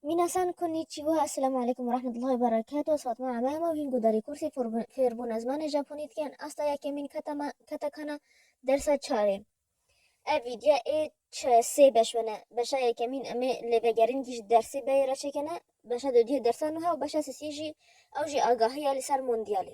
Minasan konnichiwa, Esselamu Aleykum ve Rahmetullahi ve Berekatuh, ez Fatma Ame me û hîn guhdarî kursê fêrbûna zimanê Japonî dikin, asta yekemîn keta me ketekana dersa çarê. Ev vîdya ê çi sê beş bene, beşa yekemîn em ê lêvegerîn kî ji dersê beyê re çêkene, beşa dudiyê dersa nuha û beşa sisiyê jî ew jî agahiya li ser mondiyalê.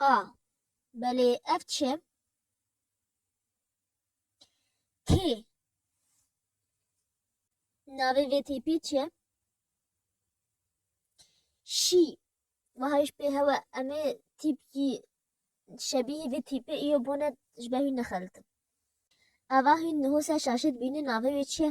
A, Belê ev çi? K, Navê vê tîpî çi? Şî, Wiha ji pê hewe em ê tîpkî şebîhî vê tîpê îyo bûne ji ber hûn nexelitin. Ava hûn niho ser şaşê dibînin navê wê çi ye?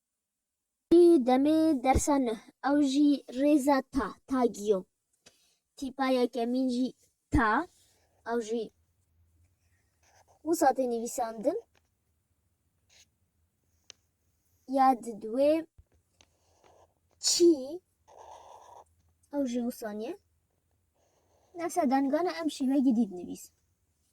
Ti demê dersa nuh ew jî rêza ta, tag yo. Tîpa yekemîn jî ta, ew jî wisa tê nivîsandin. Ya di duwê çî ew jî wisa niye. Nefsa dengana em şîvegî dît nivîs.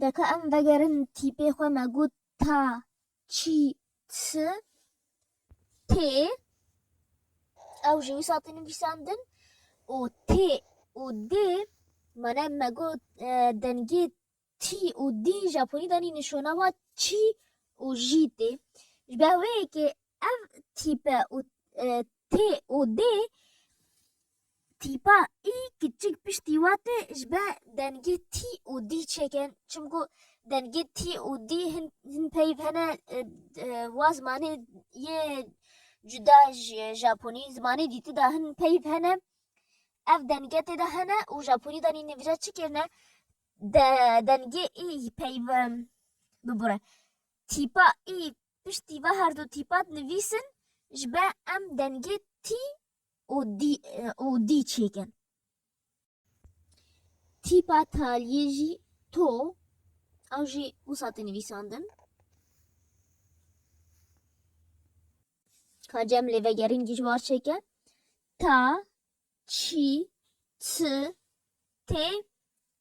Deka em vegerin tîpê xwe me got ta çî ti tê ew ji wî satê nivîsandin û tê û dê mane me got dengê tî û dî japonî danî nişona wa çî û jî tê. Ji ber wê yekê Ev tîpe û T û D tîpa I kiçik piştî we tê ji ber dengê T û D çêkin çimku dengê T û D hin peyv hene wa zimanê yê cuda ji japonî zimanê dîti de hin peyv hene ev denge tê de hene û japonî de nîne vîra çi kirine dengê I peyv bibire tîpa I Piştî ve her du tîpa dinivîsin ji be em dengê tî û dî çêkin. Tîpa taliyê jî to ew jî wisa tê nivîsandin. Ka cem lê vegerîn dijwar çêke. Ta, çî, çi, tê,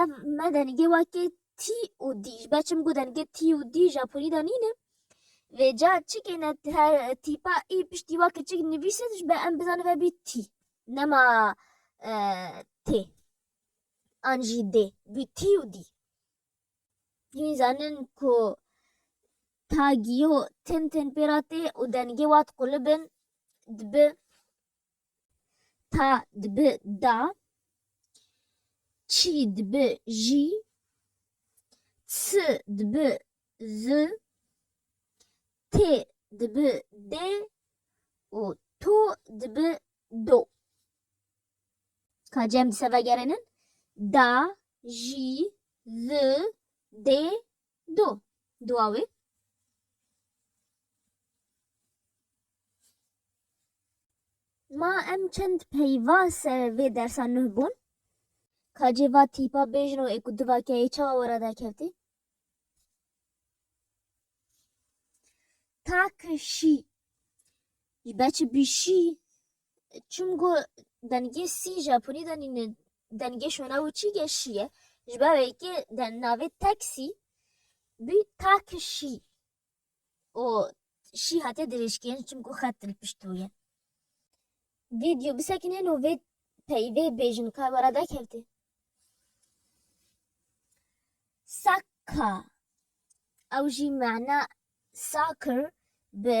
Ev me dengê weke tî û dî ji ber çimku dengê tî û dî Japonî de nîn e. Vê ca çikê ne her tîpa ê piştî wa ke çik nivîse ji ber em bizanin vebî tî nema tê an jî dê bî tî û dî. Hîn zanin ku tagîyo tim tim pê re tê û dengê wat qulib in dibi Ta dibi da, çî dibi jî, ti dibi zi, tê dibi dê û to dibi do. Ka cem dise vegerênin, da, jî, zi, dê, Do, dua wê. Ma em çend peyva ser vê dersa nuh bûn. Kacê va tîpa bêjin û ê ku diva keyê çawa were dakevtî? Takişî. Ji ber çi bîşî Çim go dengê sî Japonî de nîne dengê şona û çî ge şî ye. Ji ber wê yekê de navê teksî bî taki şî û şî hatiye dirêjkirin çimkû xet li pişt wî ye. Vîdyo bisekinên û vê peyî vê bêjin ka were dekevtê. Sakka ew jî mana sakir bi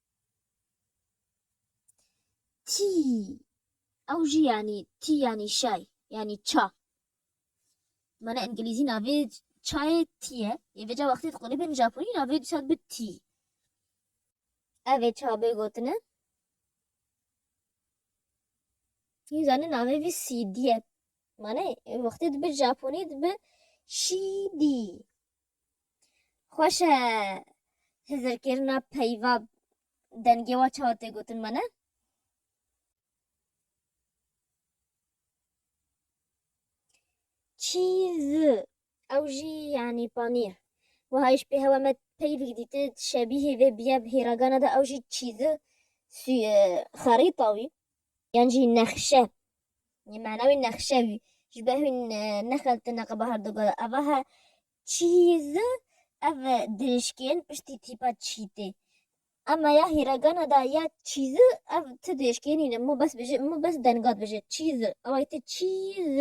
Tî ew jî yanî tî yanî şay yanî ça. Mana îngilîzî navê çayê tî ye. Yê vêca wextê diqulîbin Japonî navê dîsa dibe tî. Evê ça bê gotine. Yê zanî navê vî CD ye. Mana wextê dibe Japonî dibe şîdî. Xweş e hizirkirina peyva dengê wa çawa tê gotin me ne? Çîz ew jî yanî panîr. Wiha îş pê hewa me peyvik dîti şebîhê vê biye hêragana de ew jî çîzi xerîta wî. yan jî nexşe yê mana wî nexşe wî ji ber wî nexeltine qe bahar digot eva he çîz ev dirêjkên piştî tîpa çîtê Ema ya hîregana da ya çîz ev ti dirêjkên nîne min bes bijî min bes dengat bijî çîz ew te çîz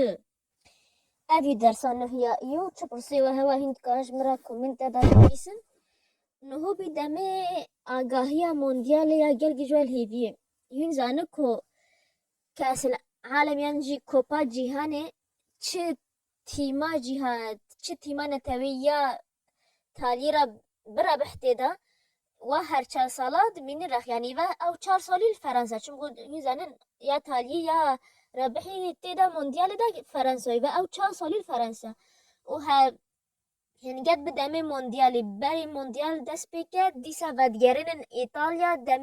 Ev jî dersa nuh ya î yo. Çi pirsê we hewa hîn dikarin ji min re komênte de binivîsin. Nuhu bî demê agahiya mondyalê ya gel ji we li hêvî ye. Hîn zani ku kesil alem yan jî kopa cîhanê çi tîma cîha çi tîma netewî ya talî re birebih tê de wa her çar sala dimînî rex yanî ve ew çar salî li Ferensa çim ku hîn zanin ya talî ya rebihî tê de mondiyalê de Ferensayî ve ew çar salî li Ferensa û he hin get bi demê mondiyalî berê mondiyal dest pê ket dîsa vedigerênin Îtalya dem